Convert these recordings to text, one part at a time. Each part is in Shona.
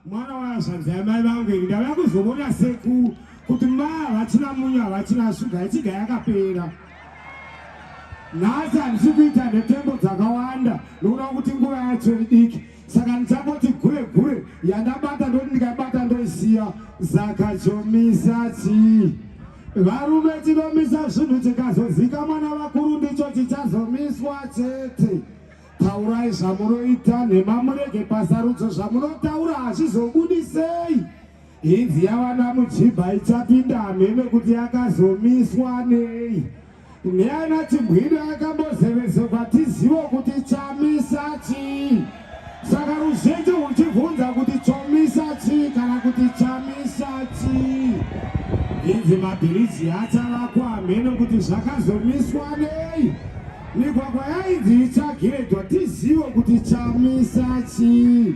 mwana wazvanzi yamai vangu ini ndava kuzomona seku kuti ma havachina munyu havachina shuga ichiga yakapera nhasi handisi kuita nhetembo dzakawanda nokuda kuti nguva yacho idiki saka ndichangoti gure gure yandabata ndoti ndikaibata ndoisiya saka chomisa chii Varume tinomisa zvinhu tikazozika mwana vakuru ndicho tichazomiswa chete. Taurai zvamunoita nhema murege pasarudzo zvamunotaura hazvizobudisei. Hinzi yavana mujibha ichapinda hamheme kuti yakazomiswa nei. Ndiana Chigwidi akambozevezwa kwatizivo kuti chamisa chii. Saka ruzhinji huchibvunza kuti chomisa chii kana kuti chamisa chii. Inzi mabhiriji achavakwa hameno kuti zvakazomiswa nei. Migwagwa yainzi ichagirejwa tizivo kuti chamisa chii.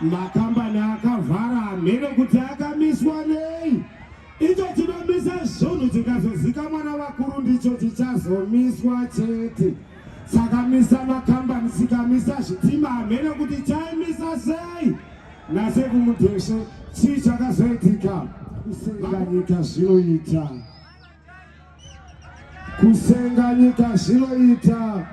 Makambani akavhara hameno kuti akamiswa nei. Icho chinomisa zvunhu chikazozika mwana vakuru ndicho chichazomiswa chete. Sakamisa makambani sikamisa zvitima hamene kuti chaimisa sei nase kumudheshe chii chakazoitika kusenganyika zvinoita kusenga nyika zvinoita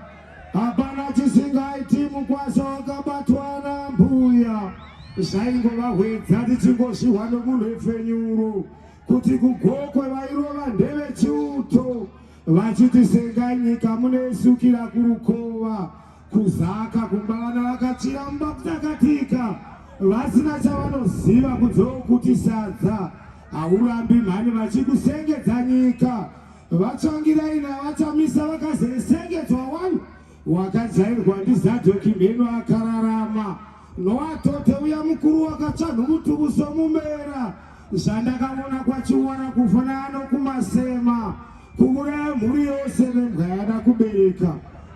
hapana chisingaiti mukwasha wakabatwa nambuya zvaingova hwedza tichingozvihwa nomunhepfenyuro kuti kugokwe vairova ndevechiuto vachiti senga nyika munoisukira kurukova Kuzaka kumbavana vakachiramba kutakatika vasina chavanoziva kunzewo kuti sadza haurambi mhani vachikusengedza nyika vatsvangirai navachamisa vakazesengedzwa wani wakajairwa ndizadoki mheno akararama Noatote uya mukuru wakatsvanhu mutubuso mumera zvandakavona kwachiwara kufana ano kumasema kuuraya mhuri yose vembwa yada kubereka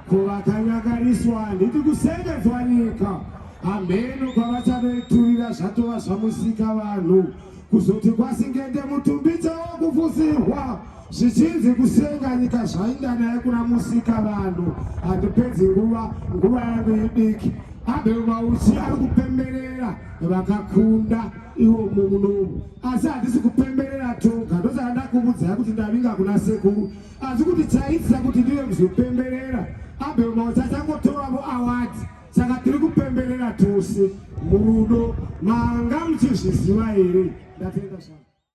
kuvakanyakariswa handiti kusengedzwa nyika hameno kwavachanoiturira zvatova zvamusika vanhu kuzoti kwasingende mutumbitsa wokufusirwa zvichinzi kusenga nyika zvainda naye kuna musika vanhu handipedzi nguva nguva yangu idiki abel mauchi ari kupemberera vakakunda iwo mumunomu asi handisi kupemberera toga ndosaka ndakuvudzai kuti ndavinga kuna sekuru asi kuti chaitisa kuti ndive kuzopemberera abel mauchi achangotoravo awadi Saka tiri kupemberera tose murudo manga muchizviziva here? Ndatenda zvangu.